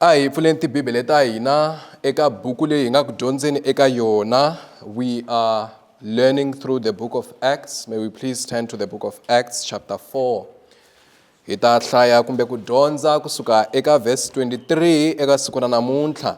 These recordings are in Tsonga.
a hi pfuleni tibibele ta hina eka buku leyi hi nga ku dyondzeni eka yona we are learning through the book of acts may we please turn to the book of acts chapter 4 hi ta hlaya kumbe ku dyondza kusuka eka verse 23 eka siku ra namuntlha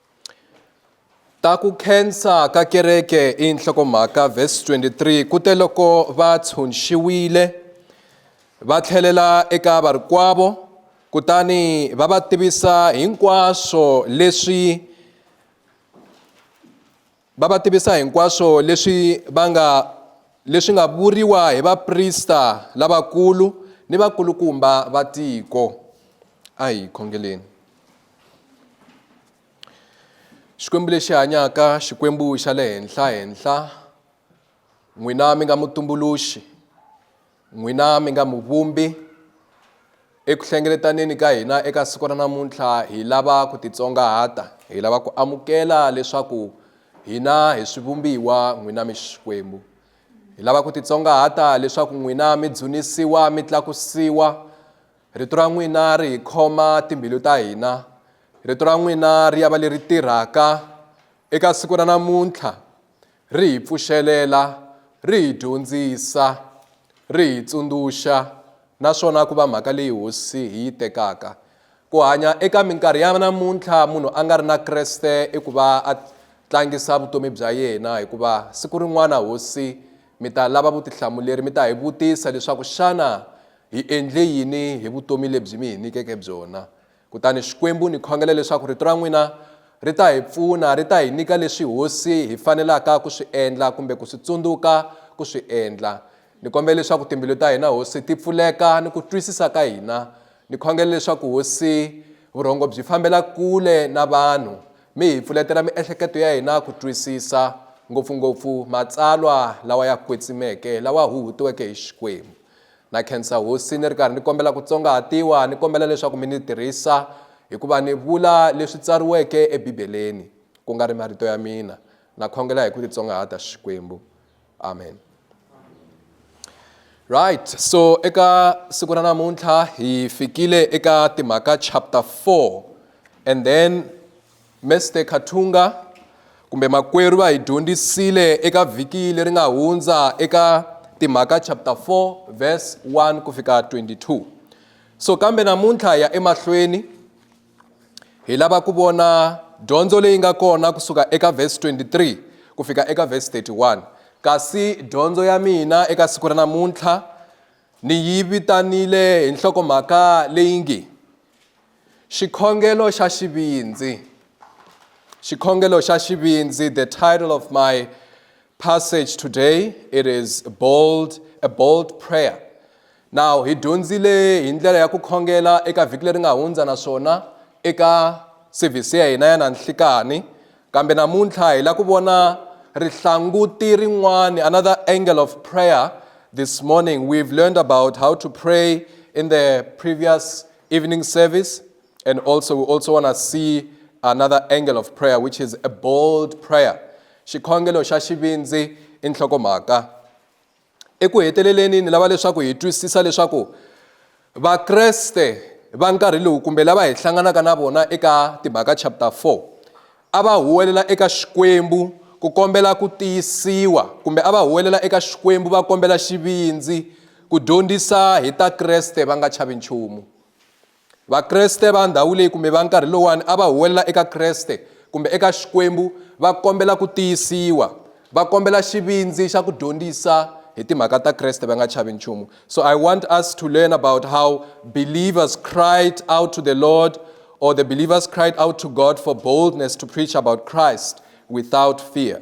ta ku khensa ka kereke i nhlokomhaka vhesi 23 ku te loko va tshunxiwile va tlhelela eka varikwavo kutani va va tivisa hinkwaswo leswi va va tivisa hinkwaswo leswi va nga leswi nga vuriwa hi vaprista lavakulu ni vakulukumba va tiko a hi khongeleni xikwembu lexi hanyaka xikwembu xa le henhla henhla n'wina mi nga mutumbuluxi n'wina mi nga muvumbi eku hlengeletaneni ka hina eka siku ra namuntlha hi lava ku titsongahata hi lava ku amukela leswaku hina hi swivumbiwa n'wina mi xikwembu hi lava ku titsongahata leswaku n'wina mi dzunisiwa mi tlakusiwa rito ra n'wina ri hi khoma timbilu ta hina rito ra n'wina ri ya va leri tirhaka eka siku ra namuntlha ri hi pfuxelela, ri hi dyondzisa, ri hi tsundzuxa naswona ku va mhaka leyi hosi hi yi tekaka. Ku hanya eka minkarhi ya namuntlha munhu a nga ri na Kreste i ku va a tlangisa vutomi bya yena hikuva siku rin'wana hosi mi ta lava vutihlamuleri mi ta hi vutisa leswaku xana hi endle yini hi vutomi lebyi mi hi nyikeke byona Kutani Xikwembu, ni khongela leswaku Rito ra n'wina ri ta hi pfuna, ri ta hi nyika leswi hosi hi fanelaka ku swi endla kumbe ku swi tsundzuka ku swi endla. Ni kombela leswaku timbilu ta hina, Hosi, ti pfuleka ni ku twisisa ka hina. Ni khongela leswaku, Hosi, vurhongo byi fambela kule na vanhu. Mi hi pfuletela miehleketo ya hina ku twisisa, ngopfu-ngopfu Matsalwa lawa ya kwetsimeke, lawa huhutiweke hi Xikwembu. Na khensa Hosi ni ri karhi ni kombela ku tsongahatiwa, ni kombela leswaku mi ni tirhisa hi ku va ni vula leswi tsariweke eBibeleni, ku nga ri marito ya mina. Na khongela hi ku titsongahata, Xikwembu. Amen. Right, so eka siku ra namuntlha hi fikile eka Timhaka chapter 4 and then Mr Khathunga kumbe makwerhu va hi dyondzisile eka vhiki leri nga hundza eka timhaka chapter 4 verse 1 ku fika 22 so kambe namuntlha ya emahlweni hi lava ku vona dyondzo leyi nga kona kusuka eka verse 23 ku fika eka verse 31 kasi dyondzo ya mina eka siku ra namuntlha ni yi vitanile hi nhlokomhaka leyi nge Xikhongelo xa xivindzi. Xikhongelo xa xivindzi, the title of my passage today, it is bold, a bold prayer. Now, hi dyondzile hi ndlela ya ku khongela eka vhiki leri nga hundza naswona eka service ya hina ya nanhlikani Kambe namuntlha hi la ku vona rihlanguti rin'wani, another angle of prayer. This morning we've learned about how to pray in the previous evening service and also we also want to see another angle of prayer which is a bold prayer. Xikhongelo xa xivindzi i nhlokomhaka. Eku heteleleni, ni lava leswaku hi twisisa leswaku Vakreste va nkarhi lowu kumbe lava hi hlanganaka na vona eka Timhaka chapter 4 a va huwelela eka Xikwembu ku kombela ku tiyisiwa kumbe a va huwelela eka Xikwembu va kombela xivindzi ku dyondzisa hi ta Kreste va nga chavi nchumu. Vakreste va ndhawu leyi kumbe va nkarhi lowani a va huwelela eka Kreste kumbe eka Xikwembu va kombela ku tiyisiwa, va kombela xivindzi xa ku dyondzisa hi timhaka ta Kreste va nga chavi nchumu. So I want us to learn about how believers cried out to the Lord or the believers cried out to God for boldness to preach about Christ without fear.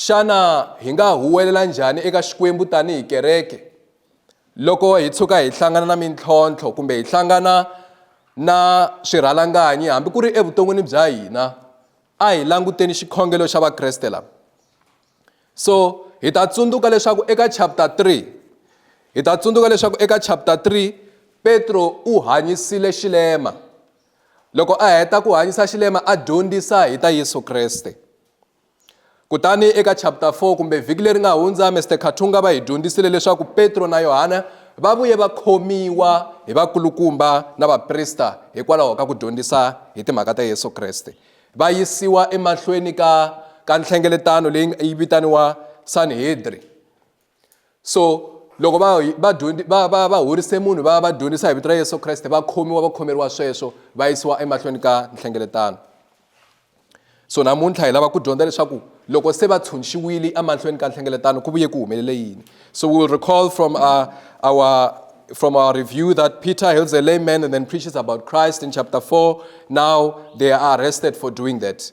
Xana hi nga huwelela njhani eka Xikwembu tanihi kereke loko hi tshuka hi hlangana na mintlhontlho kumbe hi hlangana na swirhalanganyi hambi ku ri evuton'wini bya hina? A hi languteni xikhongelo xa Vakreste lava. So hi ta tsundzuka leswaku eka chapter 3 hi ta tsundzuka leswaku eka chapter 3 Petro u hanyisile xilema loko a heta ku hanyisa xilema a dyondzisa hi ta Yesu Kreste. Kutani eka chapter 4 kumbe vhiki leri nga hundza Mr Khathunga va hi dyondzisile leswaku Petro na Yohana va vuye va khomiwa hi vakulukumba na vaprista hikwalaho ka ku dyondzisa hi timhaka ta Yesu Kreste va yisiwa emahlweni ka ka nhlengeletano leyi yi vitaniwa Sanhedri so loko va va va va va horise munhu va va dyondzisa hi vito ra yesu kreste va khomiwa va khomeriwa sweswo va yisiwa emahlweni ka nhlengeletano so namuntlha hi lava ku dyondza leswaku loko se va tshunxiwile emahlweni ka nhlengeletano ku vuye ku humelele yini so we will recall from our, uh, our from our review that Peter heals a lame man and then preaches about Christ in chapter 4. Now they are arrested for doing that.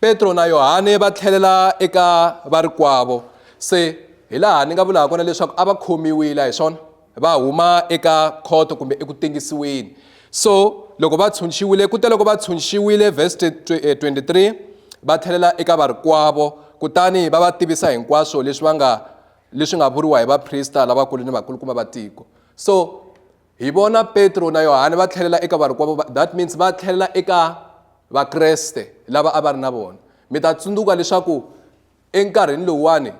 Petro na Yohane va tlhelela eka varikwavo se hi laha ni nga vulaka kona leswaku a va khomiwile a hi swona va huma eka khoto kumbe eku tengisiweni so loko va tshunxiwile ku te loko va tshunxiwile verse 23 eh, va tlhelela eka varikwavo kutani va va tivisa hinkwaswo leswi va nga leswi nga vuriwa hi vaprista lavakulu ni vakulukumba va tiko so hi vona petro na yohane va tlhelela eka varikwavo va that means va tlhelela eka vakreste lava a va ri na vona mi ta tsundzuka leswaku enkarhini lowuwani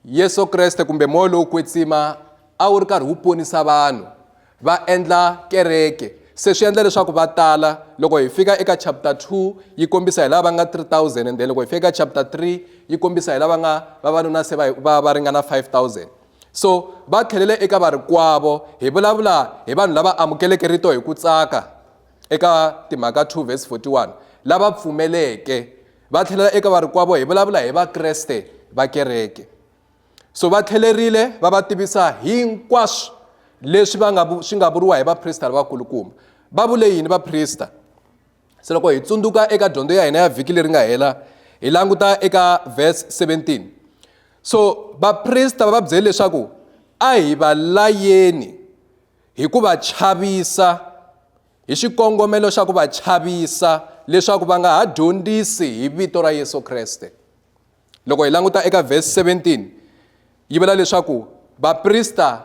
yesu kreste kumbe moya lowo kwetsima a wu ri karhi wu ponisa vanhu va endla kereke se swi endla leswaku va tala loko hi fika eka chapter 2 yi kombisa hi lava nga 3000 and then loko hi fika eka chapter 3 yi kombisa hi lava nga vavanuna se va va ringana 5000 So va tlhelele eka varikwavo, hi vulavula hi vanhu lava amukeleke rito hi ku tsaka eka Timhaka 2 verse 41, lava pfumeleke. Va tlhelela eka varikwavo, hi vulavula hi Vakreste va kereke. So va tlhelerile va va tivisa hinkwaswo leswi va nga swi nga vuriwa hi vaprista lavakulukumba. Va vule yini vaprista? se loko hi tsundzuka eka dyondzo ya hina ya vhiki leri nga hela hi languta eka verse 17 so vaprista va va byele leswaku a hi va layeni hi ku va chavisa hi xikongomelo xa ku va chavisa leswaku va nga ha dyondzisi hi vito ra yesu kreste loko hi languta eka verse 17 yi vula leswaku vaprista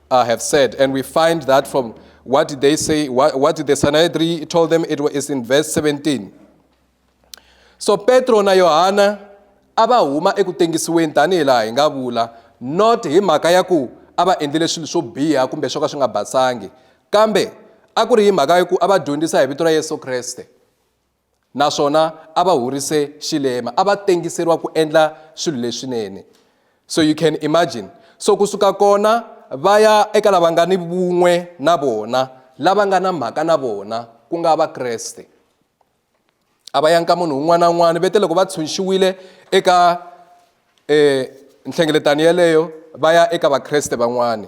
uh, have said. And we find that from what did they say, what, what did the Sanhedrin told them, it was in verse 17. So Petro na Yohana a va huma eku tengisiweni tanihi laha hi nga vula not hi mhaka ya ku a va endlile swilo swo biha kumbe swo ka swi nga basangi kambe a ku ri hi mhaka ya ku a va dyondzisa hi vito ra yesu kreste naswona a va horise xilema a va tengiseriwa ku endla swilo leswinene so you can imagine so kusuka kona va ya eka lava nga ni vun'we na vona lava nga na mhaka na vona ku nga vakreste a va yanka munhu un'wana na un'wana vete loko va tshunxiwile eka um nhlengeletano yeleyo va ya eka vakreste van'wana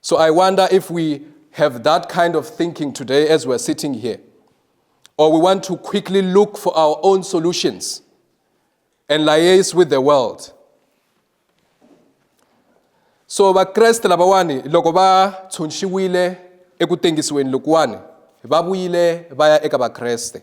So I wonder if we have that kind of thinking today as we're sitting here, or we want to quickly look for our own solutions and liaise with the world. So vakreste lavawani loko va tshunxiwile eku tengisiweni lokuwani va vuyile va ya eka vakreste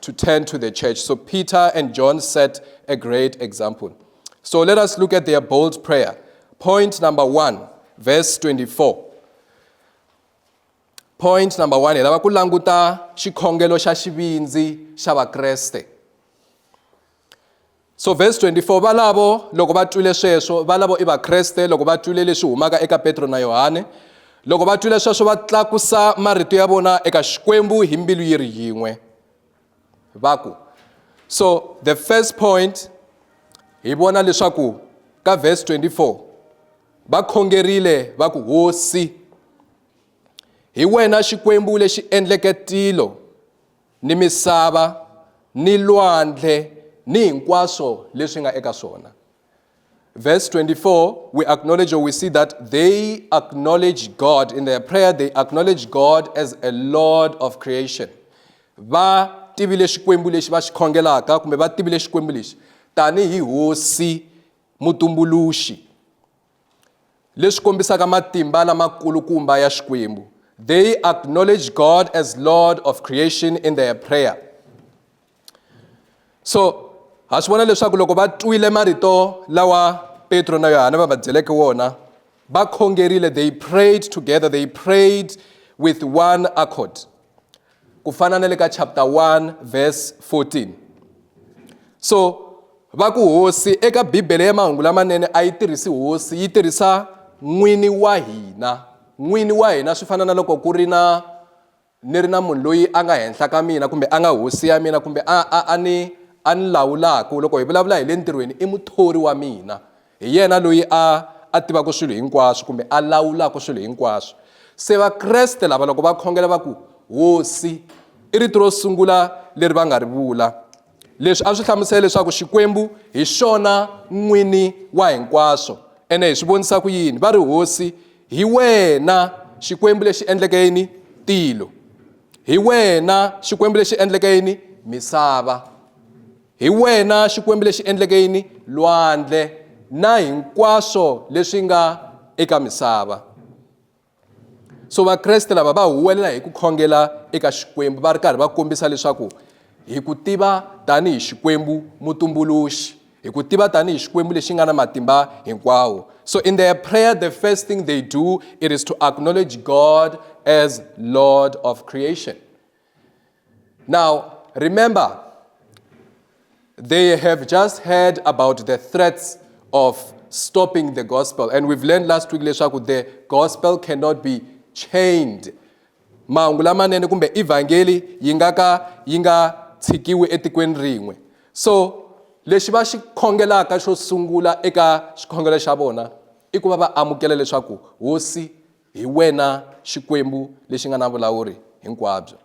to turn to the church. So Peter and John set a great example. So let us look at their bold prayer. Point number one, verse 24. Point number one, hi lava ku languta xikhongelo xa xivindzi xa vakreste. so vhesi 24 valavo loko va twile sweswo valavo i vakreste loko va twile leswi humaka eka petro na yohane loko va twile sweswo va tlakusa marito ya vona eka xikwembu hi mbilu yi ri yin'we va ku so the first point hi vona leswaku ka vhesi 24 va khongerile va ku hosi hi wena xikwembu lexi endleke tilo ni misava, ni lwandle, ni hinkwaswo leswi nga eka swona. Verse 24, we acknowledge or we see that they acknowledge God. In their prayer, they acknowledge God as a Lord of creation. Va tivile xikwembu lexi va xi khongelaka kumbe va tivile xikwembu lexi tanihi hosi mutumbuluxi leswi kombisaka matimba lamakulukumba ya xikwembu they acknowledge god as lord of creation in their prayer so ha swi vona leswaku loko va twile marito lawa petro na yohana va va byeleke wona va khongerile they prayed together they prayed with one accord ku fana na le ka chapter 1 verse 14 so va ku hosi eka bibele ya mahungu lamanene a yi tirhisi hosi yi tirhisa n'wini wa hina n'wini wa hina swi fana na loko ku ri na ni ri na munhu loyi a nga henhla ka mina kumbe a nga hosi ya mina kumbe a a a ni a ni lawulaka loko hi vulavula hi le ntirhweni i muthori wa mina Hi yena loyi a a tivaka swilo hinkwaswo kumbe a lawulaka swilo hinkwaswo. Se Vakreste lava loko va khongela va ku Hosi i rito ro sungula leri va nga ri vula. Leswi a swi hlamusela leswaku Xikwembu hi xona n'wini wa hinkwaswo. Ene hi swi vonisa ku yini? Va ri Hosi hi wena Xikwembu lexi endleke yini tilo, hi wena Xikwembu lexi endleke yini misava. Hi wena Xikwembu lexi endleke yini? Lwandle na hinkwaswo leswi nga eka misava. So Vakreste lava va huwelela hi ku khongela eka Xikwembu va ri karhi va kombisa leswaku hi ku tiva tanihi Xikwembu mutumbuluxi, hi ku tiva tanihi Xikwembu lexi nga na matimba hinkwawo. So in their prayer the first thing they do it is to acknowledge God as Lord of creation. Now, remember, they have just heard about the threats of stopping the gospel. And we've learned last week, leswaku the gospel cannot be chained. Mahungu lamanene kumbe evangeli yi nga ka yi nga tshikiwi etikweni rin'we. So, lexi va xi khongelaka xo sungula eka xikhongelo xa vona i ku va va amukela leswaku hosi Hi wena Xikwembu lexi nga na vulawuri hinkwabyo.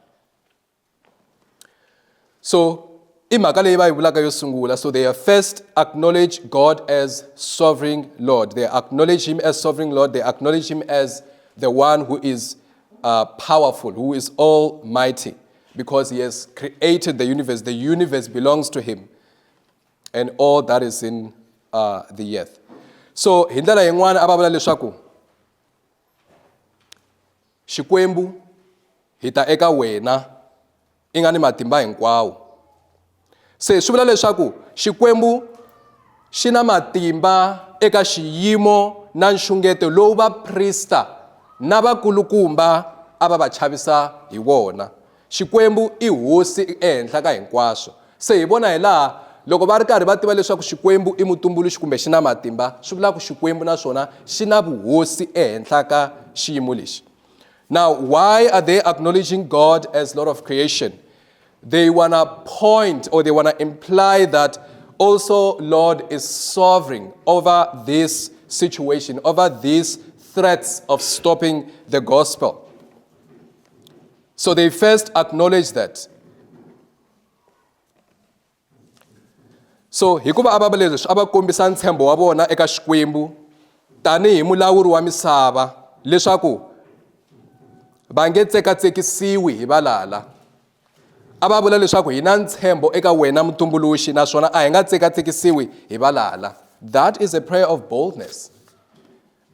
So i mhaka leyi va yi vulaka yo sungula so they first acknowledge God as sovereign Lord they acknowledge him as sovereign Lord they acknowledge him as the one who is uh, powerful who is almighty because he has created the universe the universe belongs to him and all that is in uh, the earth so hi ndlela yin'wana a va vula leswaku xikwembu hi ta eka wena i nga ni matimba hinkwawo se swi vula leswaku xikwembu xi na matimba eka xiyimo na nxungeto lowu vaprista na vakulukumba a va va chavisa hi wona Xikwembu i Hosi ehenhla ka hinkwaswo. Se hi vona hi laha loko va ri karhi va tiva leswaku Xikwembu i mutumbuluxi kumbe xi na matimba, swi vula ku Xikwembu na swona xi na vuhosi ehenhla ka xiyimo lexi. Now, why are they acknowledging God as Lord of creation? They want to point or they want to imply that also Lord is sovereign over this situation, over these threats of stopping the gospel. So they first acknowledge that. So hikuva a va leswi a va kombisa ntshembo wa vona eka Xikwembu tanihi mulawuri wa misava leswaku va nge tsekatsekisiwi hi valala a va vula leswaku hi na ntshembo eka wena mutumbuluxi naswona a hi nga tsekatsekisiwi hi valala that is a prayer of boldness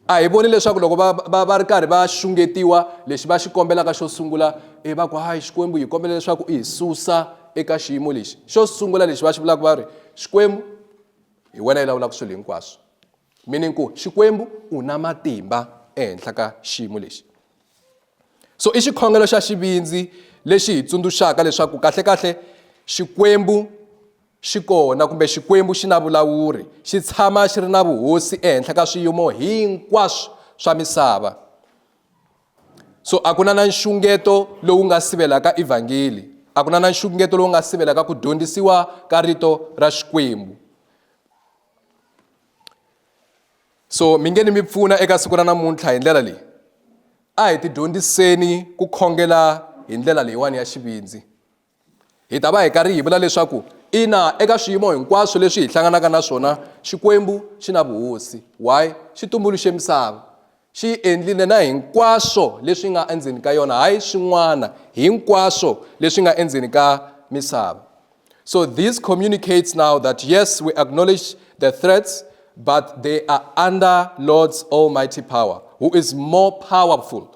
A hi voni leswaku loko va, va, va ri karhi va xungetiwa, lexi va xi kombelaka xo sungula, e va ku, Hayi, Xikwembu, hi kombela leswaku u hi susa eka xiyimo lexi. Xo sungula lexi va xi vulaka va ri, Xikwembu, hi wena i lawulaka swilo hinkwaswo. Meaning ku, Xikwembu u na matimba ehenhla ka xiyimo lexi. So i xikhongelo xa xivindzi lexi hi tsundzuxaka leswaku kahle-kahle Xikwembu Xi kona kumbe Xikwembu xi na vulawuri, xi tshama xi ri na vuhosi ehenhla ka swiyimo hinkwaswo swa misava. So a ku na na nxungeto lowu nga sivelaka evhangeli, a ku na na nxungeto lowu nga sivelaka ku dyondzisiwa ka rito ra Xikwembu. So mi nge ni mi pfuna eka siku ra namuntlha hi ndlela leyi, a hi tidyondziseni ku khongela hi ndlela leyiwani ya xivindzi. Hi ta va hi karhi hi vula leswaku ina eka swiyimo hinkwaswo leswi hi hlanganaka na swona, Xikwembu xi na vuhosi. Why? Xi tumbuluxe misava. Xi yi endlile na hinkwaswo leswi nga endzeni ka yona, hayi swin'wana, hinkwaswo leswi nga endzeni ka misava. So this communicates now that yes, we acknowledge the threats, but they are under Lord's almighty power, who is more powerful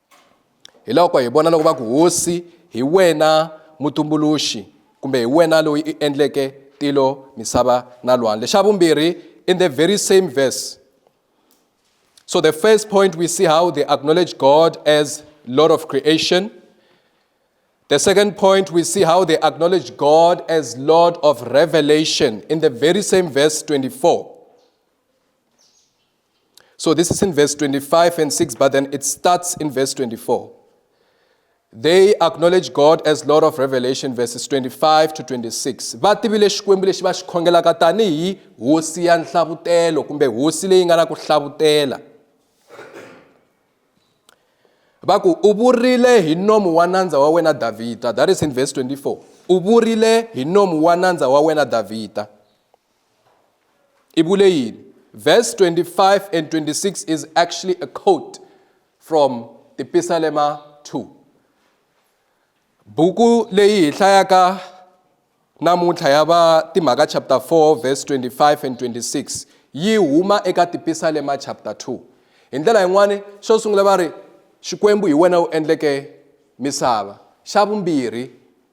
hi loko hi vona loko va ku hosi hi wena mutumbuluxi kumbe hi wena loyi i endleke tilo misava na lwandle xa vumbirhi in the very same verse so the first point we see how they acknowledge god as lord of creation the second point we see how they acknowledge god as lord of revelation in the very same verse 24 So this is in verse 25 and 6, but then it starts in verse 24. They acknowledge God as Lord of Revelation, verses 25 to 26. Va tivile Xikwembu lexi va xi khongelaka tanihi hosi ya nhlavutelo kumbe hosi leyi nga na ku hlavutela. Va ku u vurile hi nomu wa nandza wa wena Davhida. That is in verse 24. U vurile hi nomu wa nandza wa wena Davhida. Ibule yini? Verse 25 and 26 is actually a quote from the Pisalema 2. Buku leyi hi hlayaka namuntlha ya va timhaka chapter 4 verse 25 and 26 yi huma eka tipisalema chapter 2 hi ndlela yin'wana xo sungula va ri xikwembu hi wena u endleke misava xa vumbirhi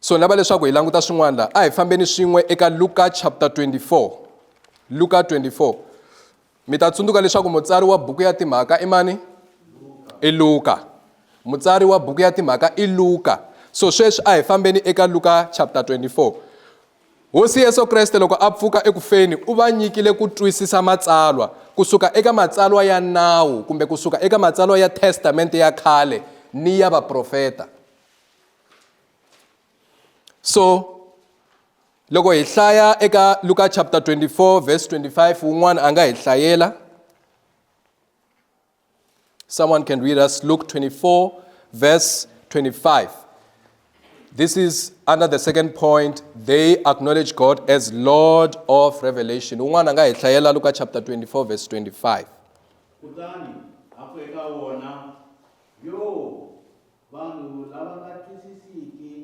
so ni lava leswaku hi languta swin'wana laha a hi fambeni swin'we eka luka chapter 24 luka 24 mi ta tsundzuka leswaku mutsari wa buku ya timhaka i mani i luka mutsari wa buku ya timhaka i luka so sweswi a hi fambeni eka luka chapter 24 Hosi Yesu Kreste loko a pfuka eku feni u va nyikile ku twisisa Matsalwa, ku suka eka Matsalwa ya Nawu kumbe ku suka eka Matsalwa ya Testamente ya Khale ni ya Vaprofeta. So, loko hi hlaya eka Luka chapter 24 verse 25, wun'wana a nga hi hlayela. Someone can read us Luke 24, verse 25. This is under the second point. They acknowledge God as Lord of revelation. Un'wana nga hi hlayela Luka chapter 24 verse 25. kutani a ku eka wona yo vanhu lava nga twisisiki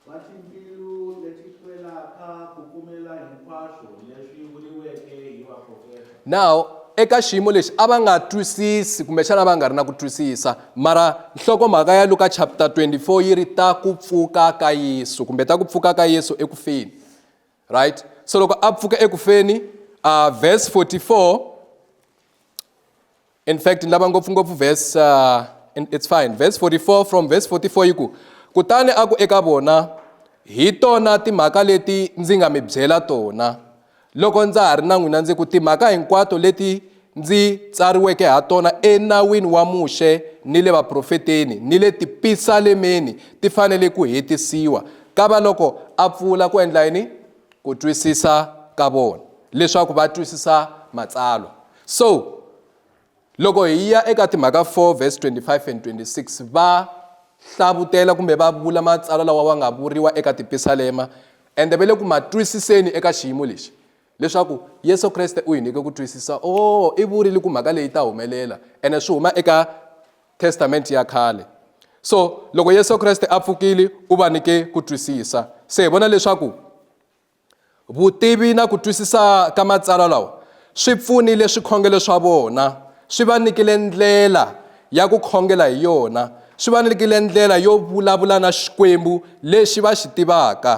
Va timbilu leti hlwelaka ku pfumela hinkwaswo leswi vuriweke hi vaprofeta. now eka xiyimo lexi a va nga twisisi kumbexana va nga ri na ku twisisa mara nhlokomhaka ya luka chapter 24 yi ri ta ku pfuka ka yesu kumbe ta ku pfuka ka yesu eku feni right so loko a pfuka eku feni uh, verse 44 in fact ni lava ngopfungopfu verse uh, it's fine verse 44 from verse 44 yi ku kutani a ku eka vona hi tona timhaka leti ndzi nga mi byela tona loko ndza ha ri na n'wina ndzi ku timhaka hinkwato leti ndzi tsariweke ha tona enawini wa muxe ni le vaprofeteni ni le tipisalemeni ti fanele ku hetisiwa ka va loko a pfula ku endla yini ku twisisa ka vona leswaku va twisisa matsalwa So, loko hi ya eka timhaka 4 vhesi 25 and 26 va hlavutela kumbe va vula matsalwa lawa wa nga vuriwa eka tipisalema ende va le ku ma twisiseni eka xiyimo lexi leswaku yesu kreste u hi nyike ku twisisa o oh, i vurile ku mhaka leyi ta humelela ene swi huma eka testamenti ya khale so loko yesu kreste a pfukile u va nyike ku twisisa se hi vona leswaku Vutivi na ku twisisa ka matsalwa lawa swi pfunile swikhongelo swa vona, swi va nyikile ndlela ya ku khongela hi yona, swi va nyikile ndlela yo vulavula na Xikwembu lexi va xi tivaka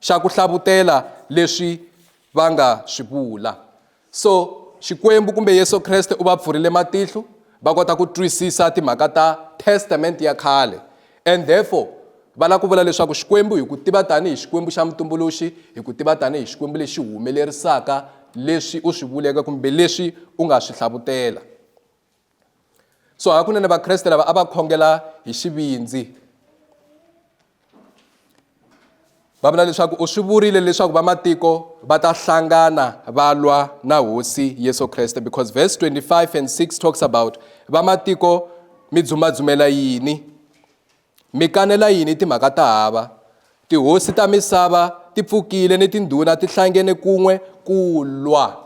xa ku hlavutela leswi va nga swi vula. So, Xikwembu kumbe Yesu Kreste u va pfurile matihlo va kota ku twisisa timhaka ta Testament ya khale. And therefore, va lava ku vula leswaku Xikwembu hi ku tiva tanihi Xikwembu xa mutumbuluxi, hi ku tiva tanihi Xikwembu lexi humelerisaka leswi u swi vuleke kumbe leswi u nga swi hlavutela. so hakunene vakreste lava a va khongela hi xivindzi va vula leswaku u swi vurile leswaku vamatiko va ta hlangana va lwa na hosi yesu kreste because verse 25 and 6 talks about vamatiko mi dzumadzumela yini mi kanela yini timhaka ta hava tihosi ta misava ti pfukile ni tindhuna ti hlangene kun'we ku lwa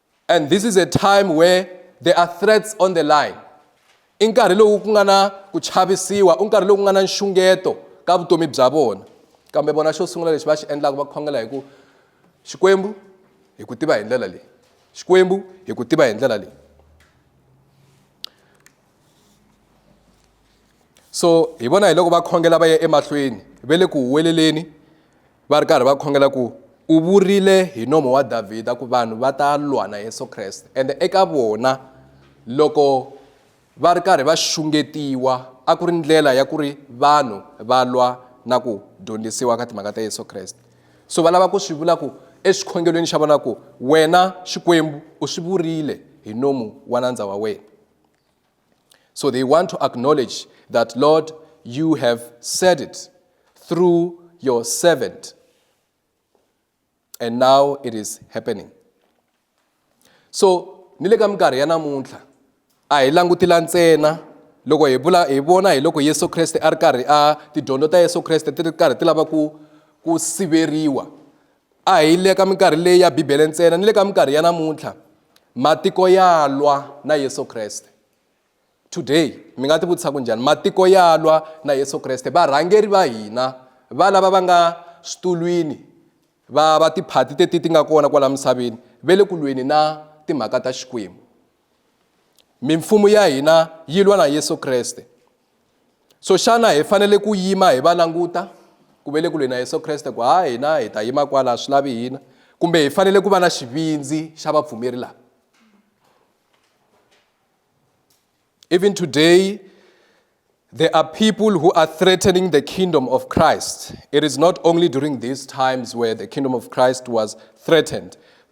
and this is a time where there are threats on the line i nkarhi lowu ku nga na ku chavisiwa i nkarhi lowu ku nga na nxungeto ka vutomi bya vona kambe vona xo sungula lexi va xi endlaka va khongela hi ku xikwembu hi ku tiva hi ndlela leyi xikwembu hi ku tiva hi ndlela leyi so hi vona hi loko va khongela va ya emahlweni ve le ku huweleleni va ri karhi va khongela ku u vurile hi nomo wa davhida ku vanhu va ta lwa na yesu kreste ende eka vona loko va ri karhi va xungetiwa a ku ri ndlela ya ku ri vanhu va lwa na ku dyondzisiwa ka timhaka ta yesu kreste so va lava ku swi vula ku exikhongelweni xa vona ku wena xikwembu u swi vurile hi nomu wa nandza wa wena So they want to acknowledge that, Lord, you have said it through your servant. And now it is happening. So, ni le ka minkarhi ya namuntlha a hi langutila ntsena loko hi vula hi vona hi loko Yesu Kreste a ri karhi a tidyondzo ta Yesu Kreste ti ri karhi ti lava ku ku siveriwa A hi le ka minkarhi leyi ya Bibele ntsena ni le ka minkarhi ya namuntlha matiko ya lwa na Yesu Kreste. Today mi nga tivutisa ku njhani matiko ya lwa na Yesu Kreste varhangeri va hina va lava va nga switulwini va va tiphati teti ti nga kona kwala misaveni ve le ku lweni na timhaka ta Xikwembu. Mimfumo ya hina yi lwa na Yesu Kreste so xana hi fanele ku yima hi va languta ku ve le kule na yesu kreste ku ha hina hi ta yima kwala swi lavi hina kumbe hi fanele ku va na xivindzi xa vapfumeri lava even today There are people who are threatening the kingdom of Christ. It is not only during these times where the kingdom of Christ was threatened.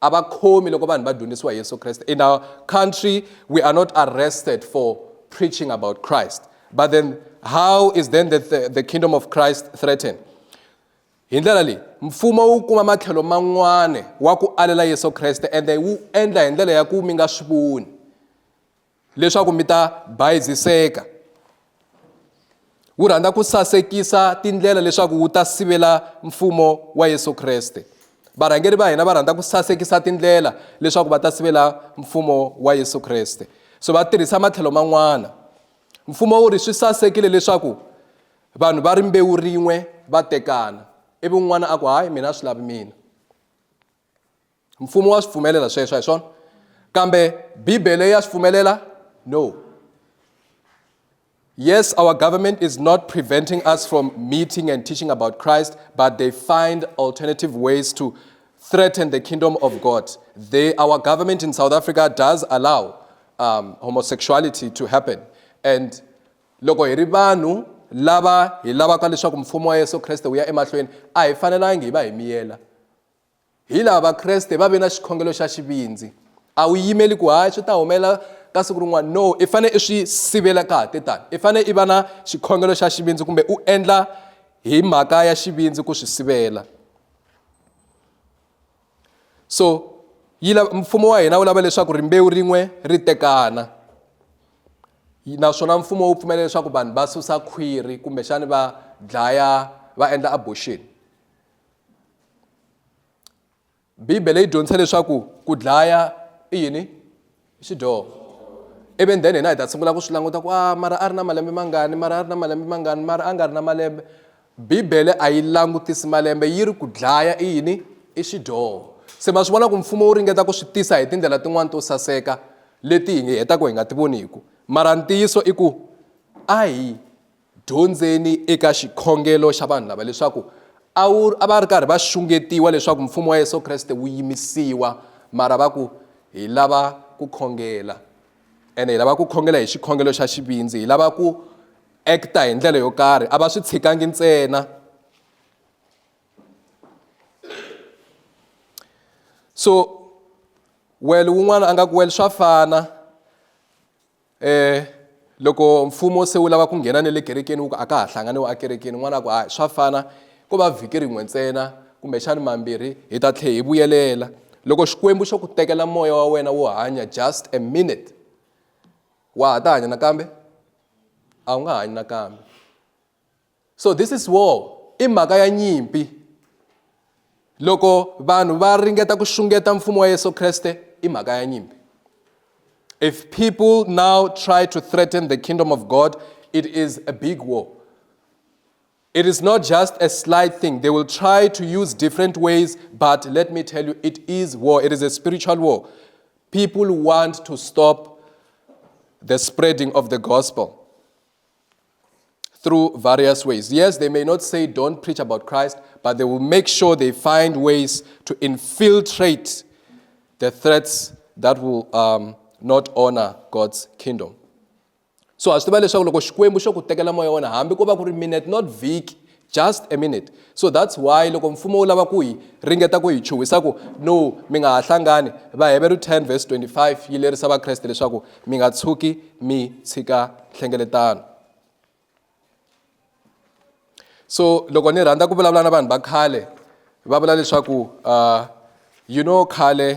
a va khomi loko vanhu va dyondzisiwa hi yesu kreste in our country we are not arrested for preaching about christ but then how is then the, the, the kingdom of christ threatened hi ndlela leyi mfumo wu kuma matlhelo man'wana wa ku alela yesu kreste ende wu endla hi ndlela ya ku mi nga swi voni leswaku mi ta bayiziseka wu rhandza ku sasekisa tindlela leswaku wu ta sivela mfumo wa yesu kreste varhangeri va hina va rhandza ku sasekisa tindlela leswaku va ta sivela mfumo wa yesu kreste so va tirhisa matlhelo man'wana mfumo wu ri swi sasekile leswaku vanhu va rimbewu rin'we va tekana ivi un'wana a ku hayi mina a swi lavi mina mfumo wa swi pfumelela sweswo hi swona kambe bibele ya swi pfumelela no yes our government is not preventing us from meeting and teaching about christ but they find alternative ways to threaten the kingdom of god they, our government in south africa does allow um, homosexuality to happen and loko hi ri vanhu lava hi lavaka leswaku mfumo wa yesu kreste wu ya emahlweni a hi fanelangi hi va hi miyela Hi laha Vakreste va ve na xikhongelo xa xivindzi. A wu yimeli ku hayi swi ta humelela ka siku rin'wana no i fanele i swi sivela ka ha te tani i fanele i va na xikhongelo xa xivindzi kumbe u endla hi mhaka ya xivindzi ku swi sivela so yi lava mfumo wa hina wu lava leswaku rimbewu rin'we ri tekana naswona mfumo wu pfumela leswaku vanhu va susa khwiri kumbexani va dlaya va endla abortion bibele yi dyondzisa leswaku ku dlaya i yini i xidyoho ivi then hina hi ta sungula ku swi languta ku a ah, mara a ri na malembe mangani mara a ri na malembe mangani mara a nga ri na malembe bibele a yi langutisi malembe yi ri ku dlaya i yini i xidyoho se ma swi vona ku mfumo wu ringeta ku swi tisa hi tindlela tin'wani to saseka leti hi hetaka hi nga ti voniku mara ntiyiso i ku a hi Dyondzeni eka xikhongelo xa vanhu lava leswaku a wu a va ri karhi va xungetiwa leswaku mfumo wa Yesu Kreste wu yimisiwa mara va ku hi lava ku khongela ene hi lava ku khongela hi xikhongelo xa xivindzi hi lava ku acta hi ndlela yo karhi a va swi tshikangi ntsena so well wun'wana a nga ku well swa fana um loko mfumo se wu lava ku nghena ne le kerekeni wu ku a ka ha hlanganiwa ekerekeni n'wana ku hayi swa fana ko va vhiki rin'we ntsena kumbexani mambirhi hi ta tlhe hi vuyelela loko xikwembu xo ku tekela moya wa wena wo hanya just a minute wa ha ta hanya nakambe a wu nga hanyi nakambe so this is war i mhaka ya nyimpi loko vanhu va ringeta ku xungeta mfumo wa yesu kreste i mhaka ya nyimpi if people now try to threaten the kingdom of god it is a big war it is not just a slight thing they will try to use different ways but let me tell you it is war it is a spiritual war people want to stop the spreading of the gospel through various ways. Yes, they may not say don't preach about Christ, but they will make sure they find ways to infiltrate the threats that will um, not honor God's kingdom. So as to swi tiva leswaku loko xikwembu xo ku tekela moya wona hambi ko va ku ri minute not vhiki just a minute so that's why loko mfumo wu lava ku hi ringeta ku hi chuhisa ku no mi nga ha hlangani vaheveru 10 verse 25 yi lerisa vakreste leswaku mi nga tshuki mi tshika nhlengeletano so loko ni rhandza ku vulavula na vanhu va khale va vula leswaku uh, you know khale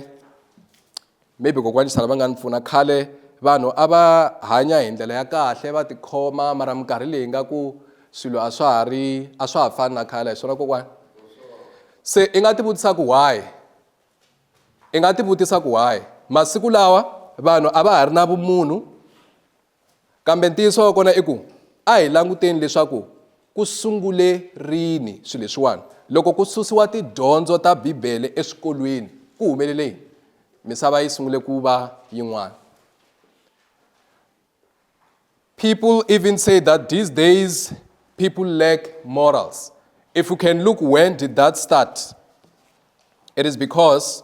maybe kokwani xana va nga ni pfuna khale vanhu a va hanya hi ndlela ya kahle va tikhoma mara minkarhi leyi nga ku swilo a swa ha ri a swa ha fani na khale hi swona kokwani se i nga tivutisa ku why i nga tivutisa ku why masiku lawa vanhu a va ha ri na vumunhu Kambe ntiyiso wa kona i ku a hi languteni leswaku ku sungule rini swilo leswiwani. Loko ku susiwa tidyondzo ta Bibele eswikolweni ku humelele yini? Misava yi sungule ku va yin'wana. People even say that these days people lack morals. If you can look when did that start? It is because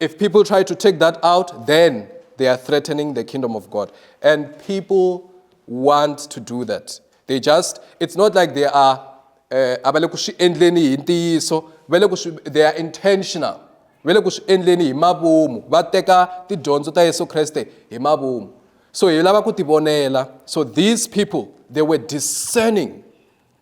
If people try to take that out, then they are threatening the kingdom of God. And people want to do that. They just, it's not like they are, eh, they are intentional. va le ku swi endleni hi mavumu va teka tidyondzo ta yesu kreste hi mavumu so hi lava ku tivonela so these people they were discerning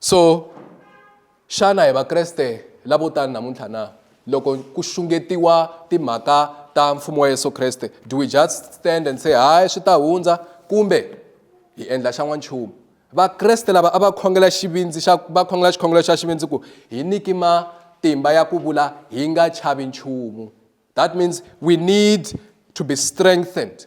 so xana hi vakreste lavo tani namuntlha na loko ku xungetiwa timhaka ta mfumo wa yesu kreste do we just stand and say hayi swi ta hundza kumbe hi endla xa n'wanchumu vakreste lava a va khongela xivindzi xa va khongela xikhongelo xa xivindzi ku hi niki matimba ya ku vula hi nga chavi nchumu that means we need to be strengthened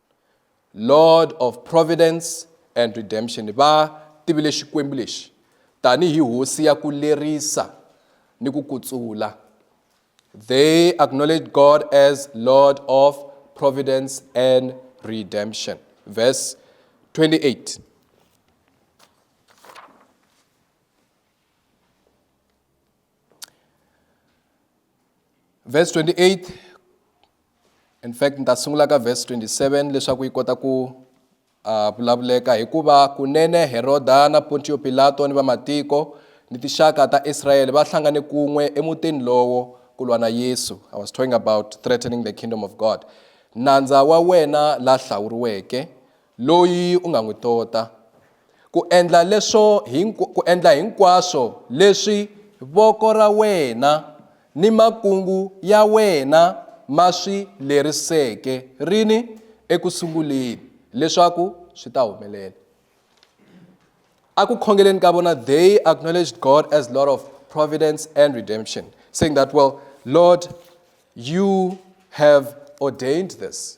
Lord of Providence and Redemption va tivile Xikwembu lexi tanihi hosi ya ku lerisa ni ku kutsula. They acknowledged God as Lord of Providence and Redemption. Verse 28. verse 28 in fact ni ta sungula ka verse 27 leswaku yi kota ku uh, vulavuleka hikuva kunene heroda na pontiyo pilato ni vamatiko ni tixaka ta israyele va hlangane kun'we emutini lowo ku lwa na yesu i was talking about threatening the kingdom of god nandza wa wena la hlawuriweke Loyi u nga n'wi tota. Ku endla leswo hinkw ku endla hinkwaswo leswi voko ra wena ni makungu ya wena ma swi leriseke rini eku sunguleni, leswaku swi ta humelela. Aku khongeleni ka vona they acknowledged God as Lord of providence and redemption, saying that, well, Lord, you have ordained this.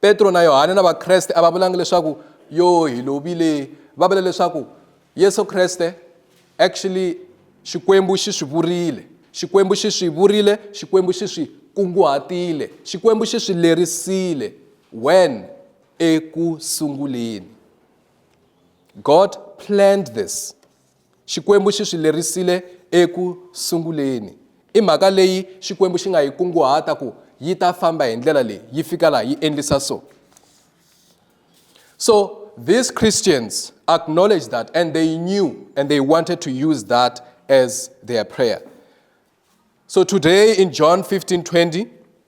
Petro na Yohane na Vakreste a va vulanga leswaku yo hi lovile va vula leswaku Yesu Kreste actually Xikwembu xi swi vurile Xikwembu xi swi vurile Xikwembu xi swi kunguhatile Xikwembu xi swi lerisile when eku sunguleni God planned this Xikwembu xi swi lerisile eku sunguleni. I mhaka leyi Xikwembu xi nga yi kunguhata ku yi ta famba hi ndlela leyi, yi fika laha yi endlisa so. So these Christians acknowledged that and they knew and they wanted to use that as their prayer. So today in John 15 20,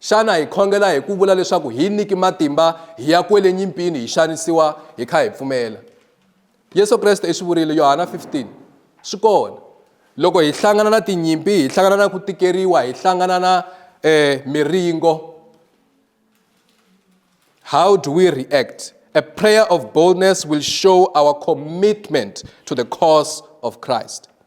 Xana hi khongela hi ku vula leswaku hi niki matimba hi ya kwele nyimpini hi xanisiwa hi kha hi pfumela? Yesu Kreste i swi vurile Yohana 15 swi kona loko hi hlangana na tinyimpi hi hlangana na ku tikeriwa hi hlangana na eh, miringo how do we react a prayer of boldness will show our commitment to the cause of christ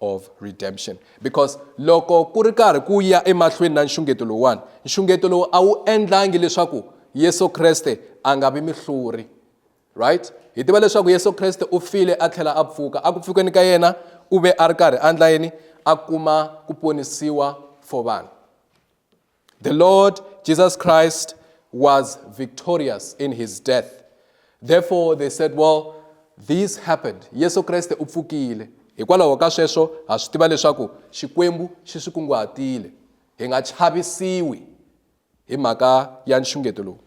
of redemption because loko ku ri karhi ku ya emahlweni na nxungeto lowuwani nxungeto lowu a wu endlangi leswaku yesu kreste a nga vi mihluri right hi tiva leswaku yesu kreste u file a tlhela a pfuka a ku pfukeni ka yena u ve a ri karhi a ndla yini a kuma ku ponisiwa for vanhu The Lord Jesus Christ was victorious in his death. Therefore, they said, well, this happened. Yesu Kreste u pfukile. Hikwalaho ka sweswo, ha swi tiva leswaku Xikwembu xi swi kunguhatile. Hi nga chavisiwi hi mhaka ya nxungeto lowu.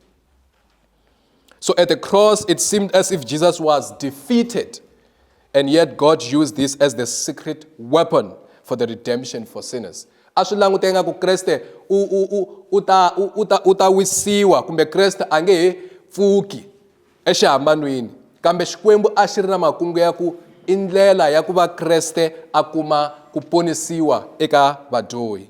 So at the cross, it seemed as if Jesus was defeated, and yet God used this as the secret weapon for the redemption for sinners. a swi languteka nga ku kreste u u u u ta u u ta u ta wisiwa kumbe kreste a nge he pfuki exihambanweni kambe xikwembu a xi ri na makungu ya ku i ndlela ya ku va kreste a kuma ku ponisiwa eka vadyohi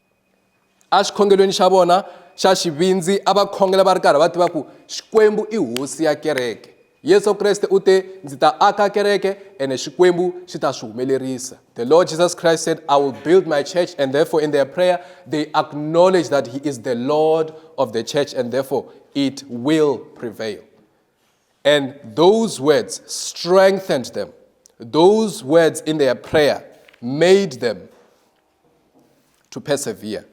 exikhongelweni xa vona xa xivindzi a va khongela va ri karhi va tiva ku xikwembu i hosi ya kereke yesu kreste u te ndzi ta aka kereke ene xikwembu xi ta swi humelerisa the lord jesus christ said i will build my church and therefore in their prayer they acknowledge that he is the lord of the church and therefore it will prevail and those words strengthened them those words in their prayer made them to persevere.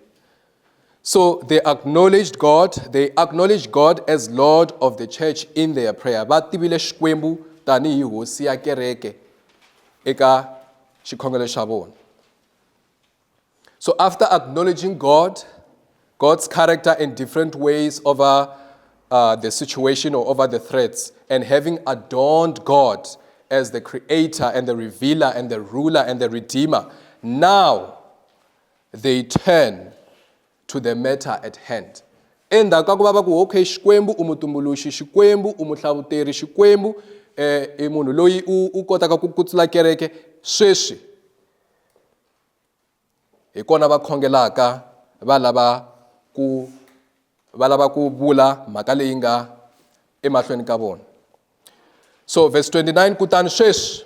So they acknowledged God, they acknowledged God as Lord of the church in their prayer. Va tivile Xikwembu tanihi hosi ya kereke eka xikhongelo xa vona. So after acknowledging God, God's character in different ways over uh, the situation or over the threats, and having adorned God as the creator and the revealer and the ruler and the redeemer, now they turn to the matter at hand endzhaku ka ku va va ku okay xikwembu u mutumbuluxi xikwembu u muhlavuteri xikwembu um eh, i munhu loyi u kotaka ku kutsula kereke sweswi Hi kona va khongelaka va lava ku va lava ku vula mhaka leyi nga emahlweni ka vona so verse 29 kutani sweswi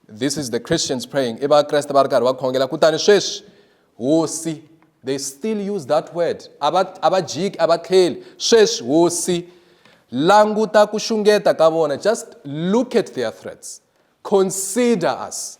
this is the christians praying i vakreste va ri karhi va khongela kutani sweswi hosi they still use that word a va a va jiki a va tlheli sweswi hosi languta ku xungeta ka vona just look at their threats consider us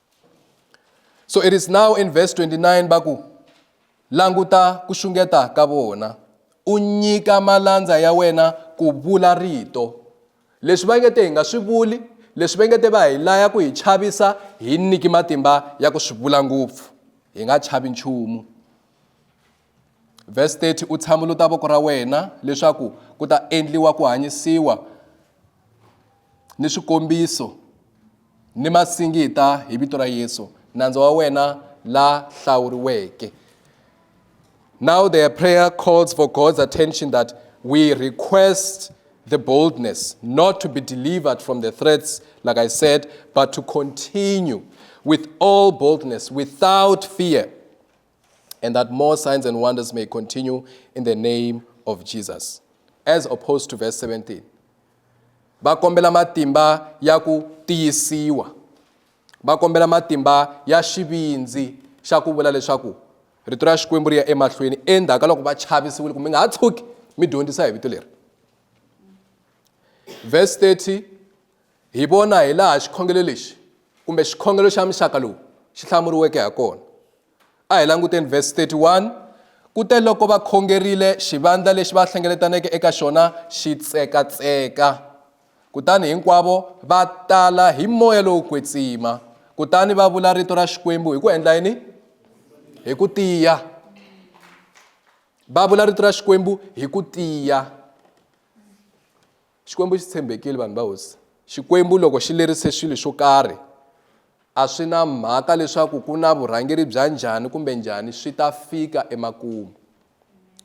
so it is now in verse 29 va ku languta ku xungeta ka vona u nyika malandza ya wena ku vula rito leswi va nge te hi nga swi vuli leswi va nge te va hi laya ku hi chavisa hi nyiki matimba ya ku swi vula ngopfu hi nga chavi nchumu Vhesi 30, U tshamuluta voko ra wena leswaku ku ta endliwa ku hanyisiwa ni swikombiso ni masingita hi vito ra Yesu, nandza wa wena la hlawuriweke. Now their prayer calls for God's attention that we request the boldness not to be delivered from the threats, like I said, but to continue with all boldness, without fear, and that more signs and wonders may continue in the name of Jesus. As opposed to verse 17. Va kombela matimba ya ku tiyisiwa. Va kombela matimba ya xivindzi xa ku vula leswaku rito ra Xikwembu ri ya emahlweni endzhaku ka loko va chavisiwile ku mi nga ha tshuki mi dyondzisa hi vito leri. Verse 30 Hi vona hilaha xikhongelo lexi kumbe xikhongelo xa muxaka lowu xi hlamuriweke ha kona. A hi languteni vhesi 31, Ku te loko va khongerile, xivandla lexi va hlengeletaneke eka xona xi tsekatseka. Kutani hinkwavo va tala hi moya lowo kwetsima, kutani va vula rito ra Xikwembu hi ku endla yini? Hi ku tiya. Va vula rito ra Xikwembu hi ku tiya. Xikwembu xi tshembekile, vanhu va hosi. Xikwembu loko xi lerise swilo swo karhi, a swi na mhaka leswaku ku na vurhangeri bya njhani kumbe njhani, swi ta fika emakumu.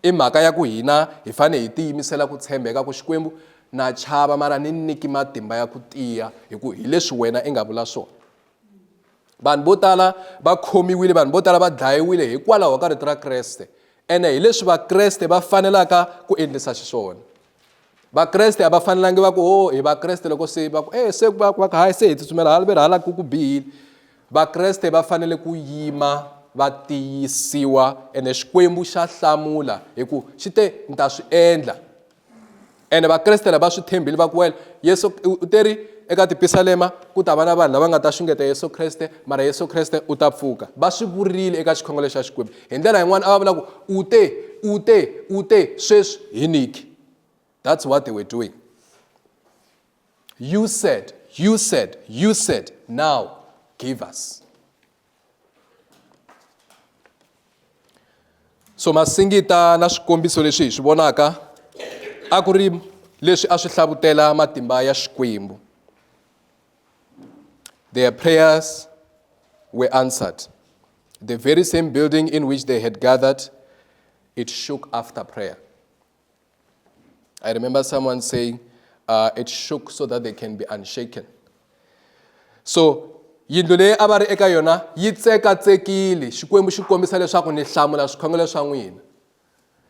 I mhaka ya ku hina hi fanele hi tiyimisela ku tshembeka ku Xikwembu, na chava mara ni niki matimba ya ku tiya, hi ku hi leswi wena i nga vula swona. Vanhu vo tala va khomiwile, vanhu vo tala va dlayiwile hikwalaho ka rito ra Kreste, ene hi leswi Vakreste va fanelaka ku endlisa xiswona. vakreste a va fanelangi va ku o oh, hi vakreste loko se va ku e se va va ka hayi se hi tsutsumela hala ve ri hala ku ku bihile vakreste va fanele ku yima va tiyisiwa ene xikwembu xa hlamula hi ku xi te ni ta swi endla ene vakreste lava swi tshembile va ku wela yesu u te ri eka tipisalema ku ta va na vanhu lava nga ta xungeta yesu kreste mara yesu kreste u ta pfuka va swi vurile eka xikhongelo xa xikwembu hi ndlela yin'wana a va vula ku u te u te u te sweswi hi niki that's what they were doing you said you said you said now give us so masingita na swikombiso leswi hi swi vonaka a ku ri leswi a swi hlavutela matimba ya xikwembu Their prayers were answered. The very same building in which they had gathered, it shook after prayer. I remember someone saying, uh, it shook so that they can be unshaken. So yindlu leyi a va ri eka yona yi tsekatsekile xikwembu xi kombisa leswaku ni hlamula swikhongelo swa n'wina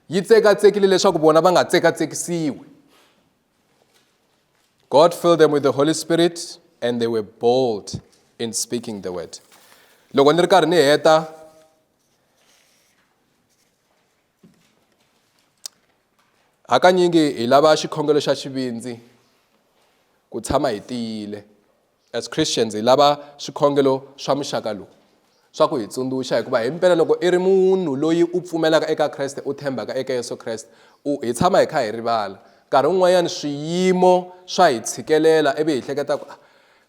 yi tsekatsekile leswaku vona va nga tsekatsekisiwi God filled them with the Holy Spirit and they were bold in speaking the word. Loko ni ri karhi ni heta hakanyingi hi lava xikhongelo xa xivindzi ku tshama hi tiyile As Christians, hi lava swikhongelo swa muxaka lowu swa ku hi tsundzuxa, hikuva hi mpela loko i ri munhu loyi u pfumelaka eka Kreste, u tshembaka eka Yesu Kreste, u hi tshama hi kha hi rivala. Nkarhi wun'wanyana swiyimo swa hi tshikelela ivi hi hleketa ku,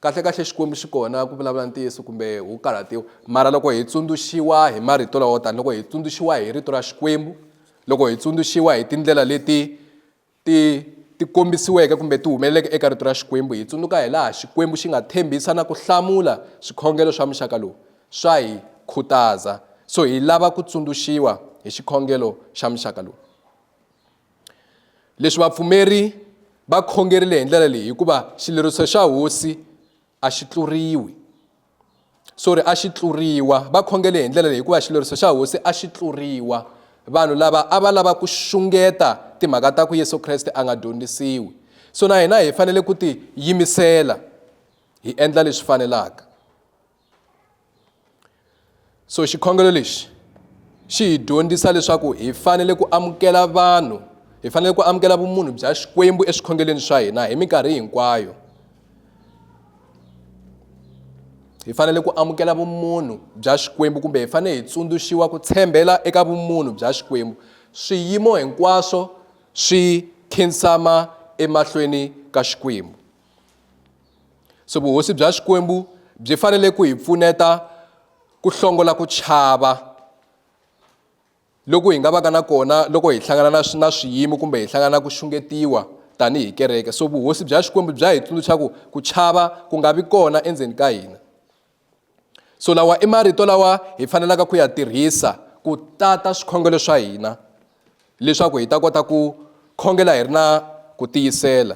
kahlekahle Xikwembu xi kona ku vulavula ntiyiso kumbe wu karhatiwa. Mara loko hi tsundzuxiwa hi marito lawo tani, loko hi tsundzuxiwa hi rito ra Xikwembu, loko hi tsundzuxiwa hi tindlela leti ti ti kombisiweke kumbe ti humeleleke eka rito ra Xikwembu, hi tsundzuka hilaha Xikwembu xi nga tshembisa na ku hlamula swikhongelo swa muxaka lowu, swa hi khutaza. So hi lava ku tsundzuxiwa hi xikhongelo xa muxaka lowu. Leswi vapfumeri va khongerile hi ndlela leyi hikuva xileriso xa Hosi a xi tluriwi. sorry a xi tluriwa va khongele hi ndlela leyi hikuva xileriso xa hosi a xi tluriwa vanhu lava a va lava ku xungeta timhaka ta ku yesu kreste a nga dyondzisiwi so na hina hi fanele ku ti yimisela hi endla leswi fanelaka so xikhongelo lexi xi hi dyondzisa leswaku hi fanele ku amukela vanhu hi fanele ku amukela vumunhu bya xikwembu eswikhongelweni swa hina hi minkarhi hinkwayo hi fanele ku amukela vumunhu bya xikwembu kumbe hi fanele hi tsundzuxiwa ku tshembela eka vumunhu bya xikwembu swiyimo hinkwaswo swi khinsama emahlweni ka xikwembu So vuhosi bya Xikwembu byi fanele ku hi pfuneta ku hlongola ku chava loku hi nga vaka na kona loko hi hlangana na na swiyimo kumbe hi hlangana ku xungetiwa tanihi kereke so vuhosi bya Xikwembu bya hi tsundzuxa ku ku chava ku nga vi kona endzeni ka hina so lawa i marito lawa hi fanelaka ku ya tirhisa ku tata swikhongelo swa hina leswaku hi ta kota ku khongela hi ri na ku tiyisela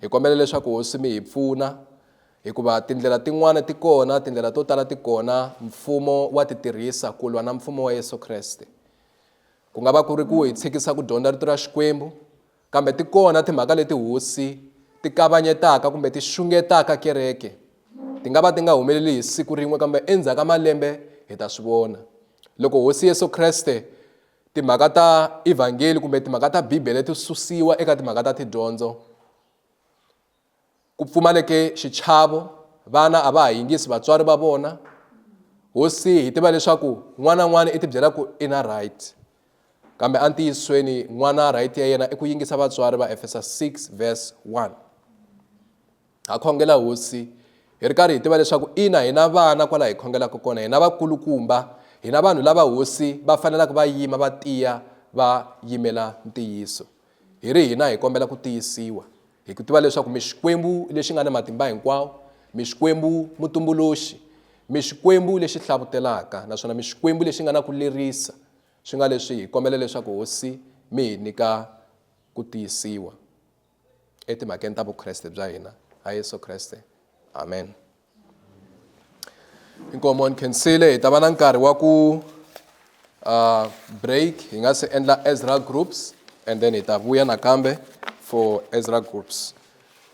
Hi kombela leswaku hosi mi hi pfuna hikuva tindlela tin'wana ti kona tindlela to tala ti kona mfumo wa ti tirhisa ku lwa na mfumo wa Yesu Kreste ku nga va ku ri ku hi tshikisa ku dyondza rito ra Xikwembu kambe ti kona timhaka leti hosi ti kavanyetaka kumbe ti xungetaka kereke ti nga va ti nga humeleli hi siku rin'we kambe endzhaku ka malembe hi ta swi vona loko hosi Yesu Kreste Timhaka ta Evhangeli kumbe timhaka ta Bibele ti susiwa eka timhaka ta tidyondzo. Ku pfumaleke xichavo, vana a va ha yingisi vatswari va vona. Hosi hi tiva leswaku n'wana n'wana i tibyela ku i na right. Kambe entiyisweni n'wana right ya yena i ku yingisa vatswari va Efesa 6 verse 1. Ha khongela Hosi, hi ri karhi hi tiva leswaku ina hi na vana kwala hi khongelaka kona, hi na vakulukumba, hi na vanhu lava Hosi va fanelaka va yima va tiya va yimela ntiyiso. Hi ri hina hi kombela ku tiyisiwa, hi ku tiva leswaku mi Xikwembu lexi nga ni matimba hinkwawo, mi Xikwembu Mutumbuluxi, mi Xikwembu lexi hlavutelaka naswona mi Xikwembu lexi nga na ku lerisa, swi nga leswi hi kombela leswaku Hosi mi hi nyika ku tiyisiwa. etimhakeni ta vukreste bya hina ha yesu kreste amen inkomo ni khensile hi ta va na nkarhi wa ku uh, break hi nga se endla ezra groups and then hi ta vuya nakambe for ezra groups